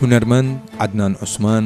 هونەرمەند عەدنان عوسمان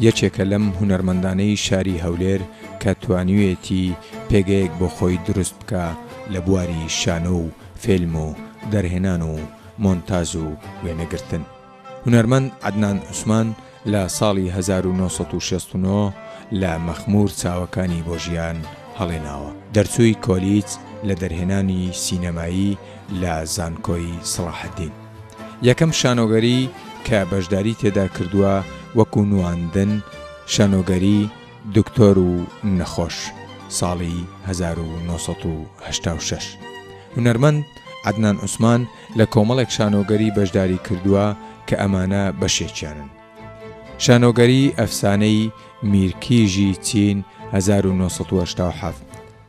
یەکێکە لەم هونەرمەندانەی شاری هەولێر کە توانیوێتی پێگەیەک بۆ خۆی دروست بکە لە بواری شانۆ و فێلم و دەرهێنان و مۆنتاژ و وێنەگرتن، هونەرمەند عەدنان عوسمان لە ساڵی هەزار و نۆ سەد و شەست و نۆ لە مەخموور چاوەکانی بۆ ژیان هەڵێناوە. دەرچووی کۆلیج لە دەرهێنانی سینەمایی لە زانکۆی سەڵاحەدین. یەکەم شانۆگەری کە بەشداری تێدا کردووە وەکوو نواندن، شانۆگەری، دکتۆر و نەخۆش، ساڵی هەزار و نۆ سەد و هەشتا و شەش. هونەرمەند، عەدنان عوسمان، لە کۆمەڵێک شانۆگەری بەشداری کردووە کە ئەمانە بەشێکیانن. شانۆگەری ئەفسانەی میرکیژی چین هەزار و نۆ سەد و هەشتا و حەفت.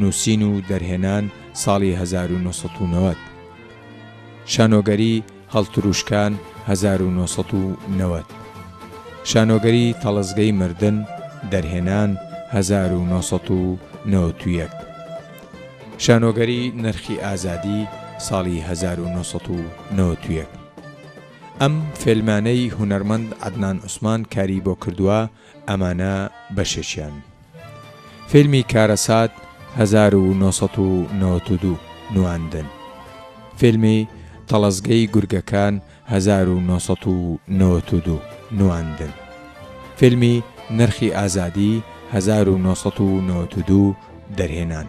نووسین و دەرهێنان ساڵی هەزار و نۆ سەد و نەوەد. شانۆگەری هەڵترووشکان هەزار و نۆ سەد و نەوەد. شانۆگەری تەڵەزگەی مردن، دەرهێنان هەزار و نۆ سەد و نەوەد و یەک. شانۆگەری نرخی ئازادی ساڵی هەزار و نۆ سەد و نەوەد و یەک. ئەم فیلمانەی هونەرمەند عەدنان عوسمان کاری بۆ کردووە ئەمانە بەشێکیان. فیلمی کارەسات هەزار و نۆ سەد و نەوەد و دوو، نواندن. فیلمی تەڵەزگەی گورگەکان هەزار و نۆ سەد و نەوەد و دوو، نواندن. فیلمی نرخی ئازادی هەزار و نۆ سەد و نەوەد و دوو، دەرهێنان.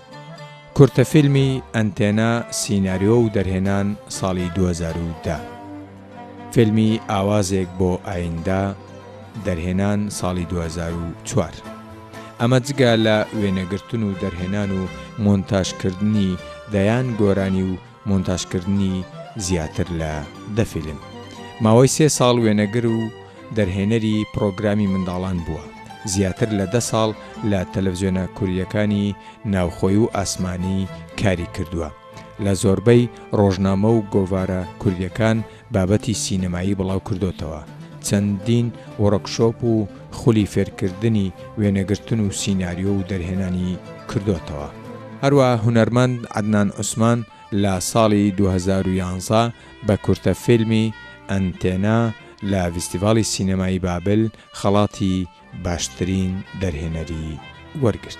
کورتە فیلمی، ئەنتێنا، سیناریۆ و دەرهێنان، ساڵی دوو هەزار و دە. فیلمی، ئاوازێک بۆ ئایندە، دەرهێنان، ساڵی دوو هەزار و چوار. ئەمە جگە لە وێنەگرتن و دەرهێنان و مۆنتاژکردنی دەیان گۆرانی و مۆنتاژکردنی زیاتر لە دە فیلم. ماوەی سێ ساڵ وێنەگر و دەرهێنەری پڕۆگرامی منداڵان بووە، زیاتر لە دە ساڵ لە تەلەڤزیۆنە کورییەکانی ناوخۆی و ئاسمانی کاری کردووە، لە زۆربەی ڕۆژنامە و گۆڤارە کورییەکان بابەتی سینەمایی بڵاو کردۆتەوە، چەندین وۆڕکشۆپ و خولی فێرکردنی وێنەگرتن و سیناریۆ و دەرهێنانی کردۆتەوە. هەروەها هونەرمەند عەدنان عوسمان لە ساڵی دوو هەزار و یازدە بە کورتە فیلمی، ئەنتێنا، لە ڤیستیڤاڵی سینەمایی بابل خەڵاتی باشترین دەرهێنەری وەرگرت.